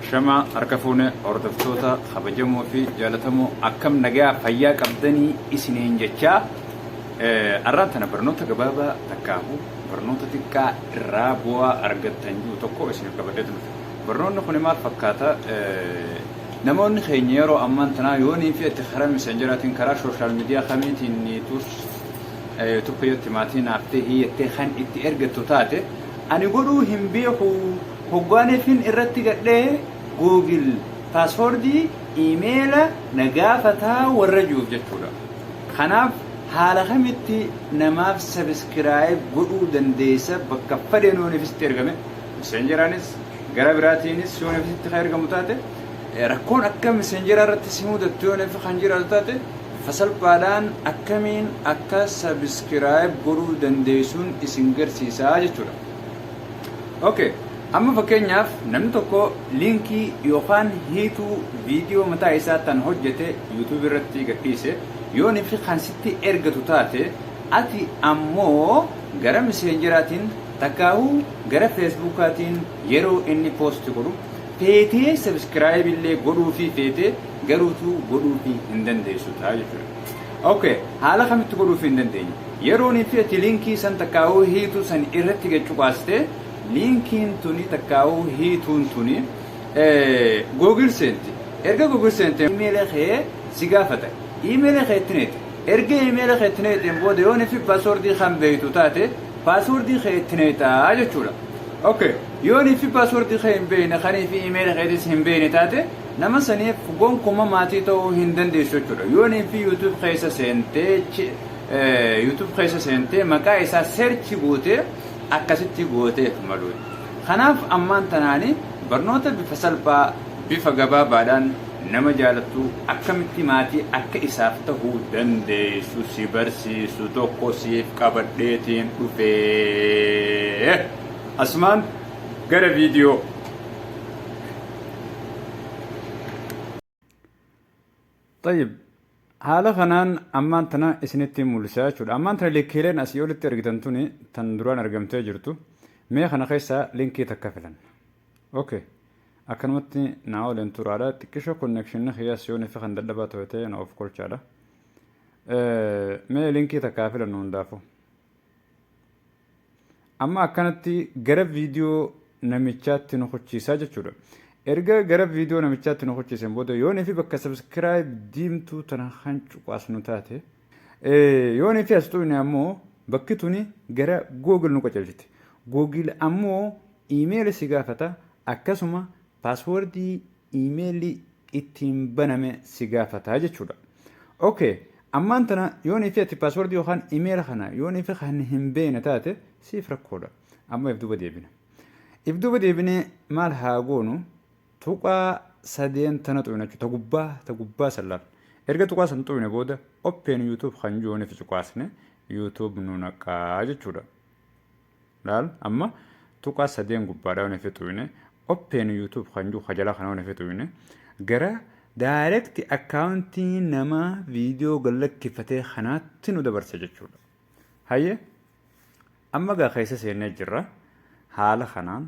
Shama harka fuune hordoftoota kabajamoo fi jaalatamoo akkam nagaa fayyaa qabdanii isiniin jechaa arraan tana barnoota gabaabaa takkaahu barnoota xiqqaa irraa bu'aa argattan jiru tokko isiniif qabadhee dhufe. Barnoonni kun maal fakkaata? Namoonni keenya yeroo ammaan tanaa yoonii fi itti karaa misenjaraatiin karaa sooshaal miidiyaa kamiitiin tuus tokko yoo itti maatii naaf ta'e hiiyattee kan itti ergattu taate Ani godhuu hin beeku hoggaan fin irratti gadhe google password email na gaafata warra juuf jechuudha kanaaf haala kamitti namaaf subscribe godhuu dandeessa bakka fadheen yoo nifisitti ergame messenger anis gara biraatiinis yoo nifisitti ka ergamu taate rakkoon akka messenger irratti simudattu yoo nif kan jiraatu taate Bifa salphaadhaan akkamiin akka subscribe godhuu dandeessun isin garsiisa jechuudha. Ok amma fakkeenyaaf namni tokko liinkii yookaan hiituu viidiyoo mataa isaa tan hojjete YouTube irratti gadhiise yooni fi kan sitti ergatu taate ati ammoo gara miseenjeraatiin takkaahuu gara feesbuukaatiin Yeroo inni post godhu feetee subscribe illee godhuufii feetee garuutuu godhuufii hin dandeessu ta'a jechuudha. Ok haala kamitti godhuufii hin dandeenye yeroon itti ati linkii san takkaa'uu hiituu san irratti gad cuqaastee linkiin tuni takkaa'uu hiituun tuni Google seenti erga Google seentee email kee si gaafata email kee itti neeta Erga iimeela kee itti nayxeen booda yoo nfi password kan beektu taate password kee itti nayxa jechuudha. Ok yoo nfi password kee hin beekne kan fi iimeela keetis hin beekne taate nama saniif gonkuma maatii ta'uu hin dandeessu jechuudha. Yoo nfi youtube keessa seentee youtube keessa seentee maqaa isaa search gootee akkasitti gooteef malu. Kanaaf ammaan tanaani barnoota bifa salphaa Bifa gabaabaadhaan nama jaalattu akkamitti maatii akka isaaf ta'uu dandeessu si barsiisu tokko siif qabadheetiin dhufe. Asumaan gara viidiyoo. Xayyib. Haala kanaan ammaan tana isinitti mul'isa jechuudha. Ammaan tana likkiileen asii olitti argitan tuni tan duraan argamtee jirtu. Mee kana keessaa linkii takka filanna. Ok. Akkanumatti naa waliin turaadha. Xiqqisho connection kiyya siyoon ifi kan dadhabaa ta'e ta'e na of kolchaadha. Mee linkii takka filannu hundaafuu. amma akkanatti gara viidiyoo namichaatti nu kuchiisaa jechuudha. Erga gara viidiyoo namichaatti nu kuchiisen booda yoonii fi bakka subscribe diimtuu tana kan cuqaasnu taate yoonii fi as tuqne ammoo bakki tuni gara Google nu qajeelchiti. Google ammoo iimeeli si gaafata akkasuma paaswoordii iimeelii ittiin baname si gaafata jechuudha. Ok, ammaan tana yoonii fi ati paaswordii yookaan iimeela kana yoonii fi kan hin beekne taate siif rakkoodha. Amma if duuba deebina. If duuba deebinee maal haa goonu? Tuqaa sadeen tana xuqna jechuudha. Ta gubbaa ta gubbaa san laal. Erga tuqaa san xuqne booda open YouTube kan jiru yoonii fi cuqaasne YouTube nu naqaa jechuudha. laal amma tuqaa sadeen gubbaadhaa waan ofitti uwwine open youtube kan jiru ka jalaa kana waan ofitti uwwine gara direct akkaawuntii nama viidiyoo gallakkifatee kanaatti nu dabarsa jechuudha. Hayyee amma gaa keessa seennee jirra haala kanaan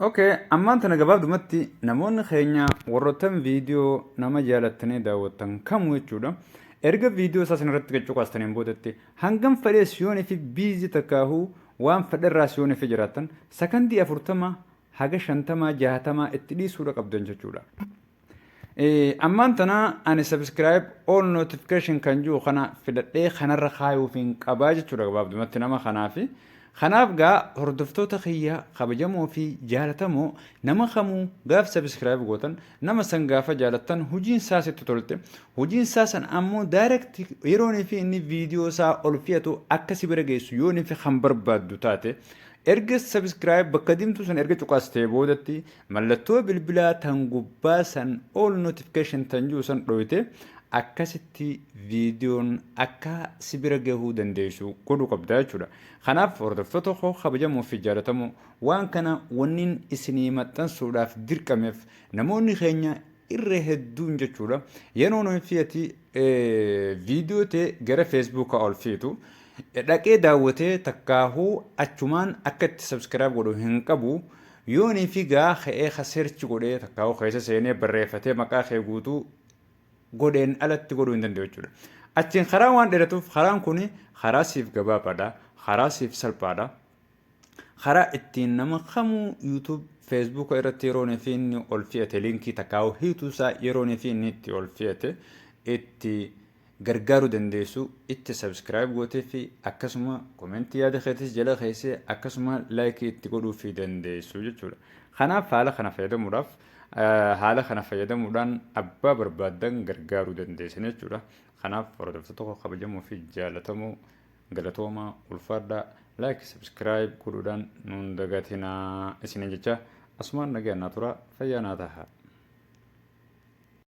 Okay, ammaan tana gabaabdumatti namoonni keenya warroottan viidiyoo nama jaalattanii daawwattan kamuu jechuudha. Erga viidiyoo isaa sanarratti gad cuqaastaniin boodatti hangam fedhee siyoonii fi biizii takkaahuu waan fedherraa siyoonii fi jiraattan sakandii afurtama haga shantamaa jaatamaa itti dhiisuudha qabdan jechuudha. Ammaan tana ani subscribe all notification kan jiru kana filadhee kanarra kaayuuf hin qabaa jechuudha gabaabdumatti nama kanaaf. Kanaaf gaa hordoftoota kiyya kabajamoo fi jaalatamoo nama kamuu gaaf subscribe gootan nama san gaafa jaalattan hojiin isaa sitti tolte hojiin isaa san ammoo direct yeroon fi inni viidiyoo isaa ol fe'atu akka si bira geessu yoon fi kan barbaaddu taate erga subscribe bakka diimtuu san erga cuqastee boodatti Mallattoo bilbilaa tan gubbaa san all notification tan jiru san dhooyte akkasitti viidiyoon akka si bira gahuu dandeessu godhuu qabda jechuudha. Kanaaf hordoftoota koo kabajamoo fi jaalatamoo waan kana wanniin isinii maxxansuudhaaf dirqameef namoonni keenya irra hedduun jechuudha yeroo nuyi fi ati viidiyoo tee gara feesbuukaa ol fiitu dhaqee daawwatee takkaahuu achumaan akka itti sabskiraayib godhu hin qabu Yoo ni figaa ka'ee ka search godhee takkaa'uu keessa seenee barreeffatee maqaa kee guutuu godheen alatti godhuu hin danda'u jechuudha. Achiin karaan waan dheeratuuf karaan kun karaa siif gabaabaadha, karaa siif salphaadha. Karaa ittiin nama kamuu YouTube, Facebook irratti yeroon fi inni ol fe'ate liinkii takkaa'uu hiituu isaa yeroon fi inni itti ol fe'ate itti gargaaru dandeessu itti subscribe gooteeffi akkasuma comment yaada keetis jala keesse akkasuma like itti godhuuffi dandeessu jechuudha kanaaf haala kana fayyadamuudhaaf haala kana fayyadamuudhaan abbaa barbaaddan gargaaru dandeessan jechuudha kanaaf hordoftoota koo kabajamoo fi jaalatamoo galatoomaa ulfaadhaa like subscribe godhuudhaan nuun dagatinaa isinin jecha asumaan nagaan naa turaa fayyaa naa tahaa